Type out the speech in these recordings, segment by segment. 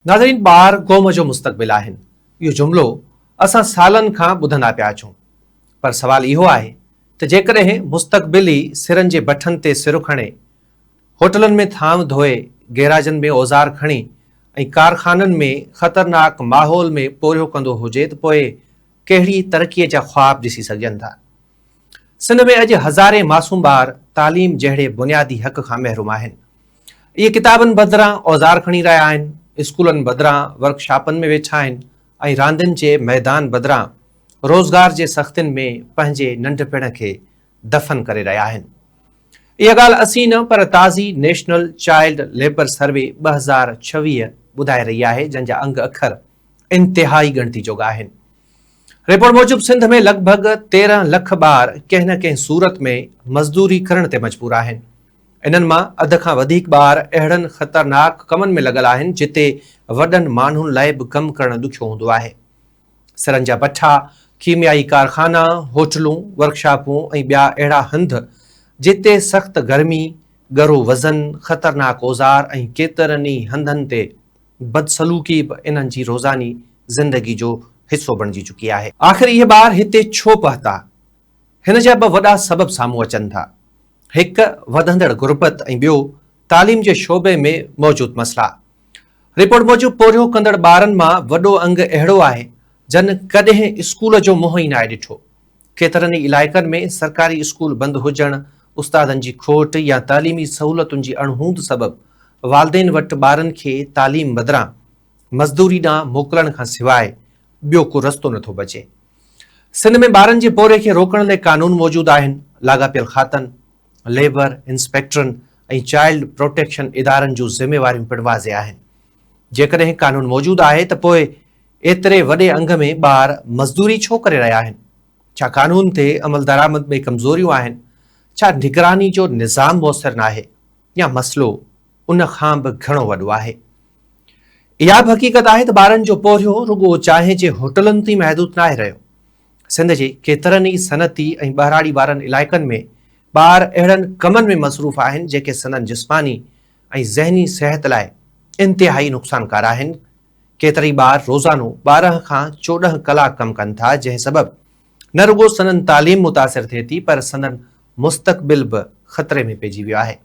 ناظرين ٻار قوم جو مستقبل آهن اهو جملو اسان سالن کان ٻڌندا پيا اچون پر سوال اهو آهي ته جيڪڏهن مستقبل ئي سرن جي بٺن تي سر کڻي هوٽلن ۾ ٿانو ڌوئي گيراجن ۾ اوزار کڻي ۽ ڪارخانن ۾ خطرناڪ ماحول ۾ پورهيو ڪندو هجي ته پوء ڪهڙي ترقي جا خواب ڏسي سگهجن ٿا سنڌ ۾ اڄ هزارين معصوم ٻار تعليم جهڙي بنيادي حق کان محروم آهن اهي ڪتابن بدران اوزار کڻي رهيا آهن، اسڪولن بدران ورڪ شاپن ۾ ويٺا آهن ۽ راندين جي ميدان بدران روزگار جي سختين ۾ پنهنجي ننڍپڻ کي دفن ڪري رهيا آهن. اها ڳالهه اسين نه پر تازي نيشنل چائلڊ ليبر سروي ٻه هزار ڇويهه ٻڌائي رهي آهي جنهن جا انگ اکر انتهائي ڳڻتي جوڳا آهن. رپورٽ موجب سنڌ ۾ لڳ ڀڳ تيرهن لک ٻار ڪنهن نه ڪنهن صورت ۾ مزدوري ڪرڻ تي مجبور آهن. انهن مان اڌ کان وڌيڪ ٻار اهڙن خطرناڪ ڪمن ۾ لڳل آهن جتي وڏن ماڻهن لاء به ڪم ڪرڻ ڏکيو هوندو آهي. سرن جا بٺا، ڪيميائي ڪارخانا، هوٽلون، ورڪشاپون ۽ ٻيا اهڙا هنڌ جتي سخت گرمي، ڳرو وزن، خطرناڪ اوزار ۽ ڪيترن ئي هنڌن تي بدسلوڪي به انهن جي روزاني زندگي جو حصو بڻجي چڪي آهي. آخر اهي ٻار هتي ڇو پهتا؟ هن جا ٻه وڏا سبب سامهون اچن ٿا، هڪ وڌندڙ غربت ۽ ٻيو تعليم جي شعبي ۾ موجود مسئلا. رپورٽ موجب پورهيو ڪندڙ ٻارن مان وڏو انگ اهڙو آهي جن ڪڏهن اسڪول جو منهن ئي ناهي ڏٺو. ڪيترن ئي علائقن ۾ سرڪاري اسڪول بند هجڻ، استادن جي کوٽ يا تعليمي سهولتن جي اڻهوند سبب والدين وٽ ٻارن کي تعليم بدران مزدوري ڏانهن موڪلڻ کان سواء ٻيو ڪو رستو نٿو بچي. سنڌ ۾ ٻارن جي پورهيي کي روڪڻ لئي قانون موجود آهن، لاڳاپيل کاتن، ليبر انسپيڪٽرن ۽ چائلڊ پروٽيڪشن ادارن جون ذميواريون پڻ واضح آهن. جيڪڏهن قانون موجود آهي ته پوء ايتري وڏي انگ ۾ ٻار مزدوري ڇو ڪري رهيا آهن؟ ڇا قانون تي عملدرآمد ۾ ڪمزوريون آهن؟ ڇا نگراني جو نظام موثر ناهي يا مسئلو ان کان به گهڻو وڏو آهي. اها به حقيقت آهي ته ٻارن جو پورهيو رڳو چانهه جي هوٽلن تي محدود ناهي رهيو. سنڌ جي ڪيترن ئي صنعتي ۽ ٻهراڙي وارن علائقن ۾ ٻار اهڙن ڪمن ۾ مصروف آهن جيڪي سندن جسماني ۽ ذهني صحت لاء انتهائي نقصانڪار آهن. ڪيترائي ٻار روزانو ٻارهن کان چوڏهن ڪلاڪ ڪم ڪن ٿا جنهن سبب نه رڳو سندن تعليم متاثر ٿئي ٿي پر سندن مستقبل به خطري ۾ پئجي ويو آهي.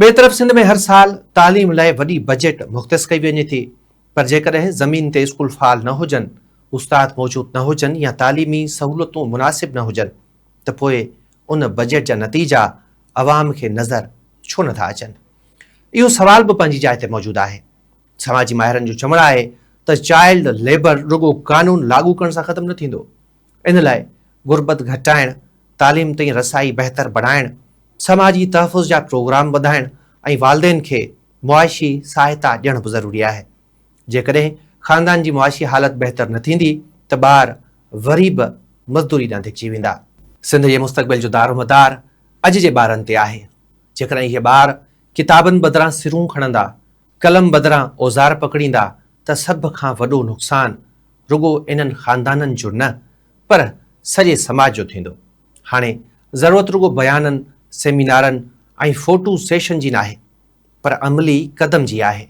ٻئي طرف سنڌ ۾ هر سال تعليم لاء وڏي بجيٽ مختص ڪئي وڃي ٿي پر جيڪڏهن زمين تي اسڪول فعال نه هجن، استاد موجود نه هجن يا تعليمي سهولتون مناسب نه هجن ته پوء ان بجيٽ جا نتيجا عوام کي نظر ڇو نه ٿا اچن؟ اهو سوال به پنهنجي جاء تي موجود آهي. سماجي ماهرن جو چوڻ آهي ته چائلڊ ليبر رڳو قانون لاڳو ڪرڻ سان ختم نه ٿيندو ان لاء غربت گهٽائڻ، تعليم تائين رسائي بهتر بڻائڻ، سماجي تحفظ جا پروگرام وڌائڻ ۽ والدين کي معاشي سهائتا ڏيڻ به ضروري آهي. جيڪڏهن خاندان جي معاشي حالت بهتر نه ٿيندي ته ٻار وري به مزدوري ڏانهن ڌڪجي ويندا. سنڌ جي مستقبل جو دارومدار اڄ جي ٻارن تي آهي. جيڪڏهن اهي ٻار ڪتابن بدران سرون کڻندا قلم بدران اوزار پڪڙيندا ته سڀ کان وڏو نقصان رڳو انهن خاندانن جو نه پر سڄي سماج جو ٿيندو. هاڻي ضرورت رڳو بيانن، سيمينارن ۽ فوٽو سيشن جي ناهي پر عملي قدم جي آهي.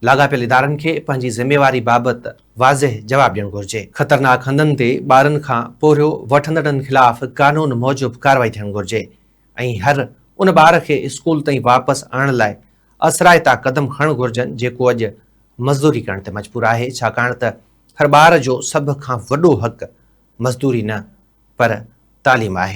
لاڳاپيل ادارن کي پنهنجي ذميواري بابت واضح جواب ڏيڻ گهرجي. خطرناڪ هنڌن تي ٻارن کان پورهيو وٺندڙن خلاف قانون موجب ڪارروائي ٿيڻ گهرجي. ۽ هر ان ٻار کي اسڪول تائين واپس آڻڻ لاء اثرائتا قدم کڻڻ گهرجن جيڪو اڄ مزدوري ڪرڻ تي مجبور آهي ڇاڪاڻ ته هر ٻار جو سڀ کان وڏو حق مزدوري نه پر تعليم آهي.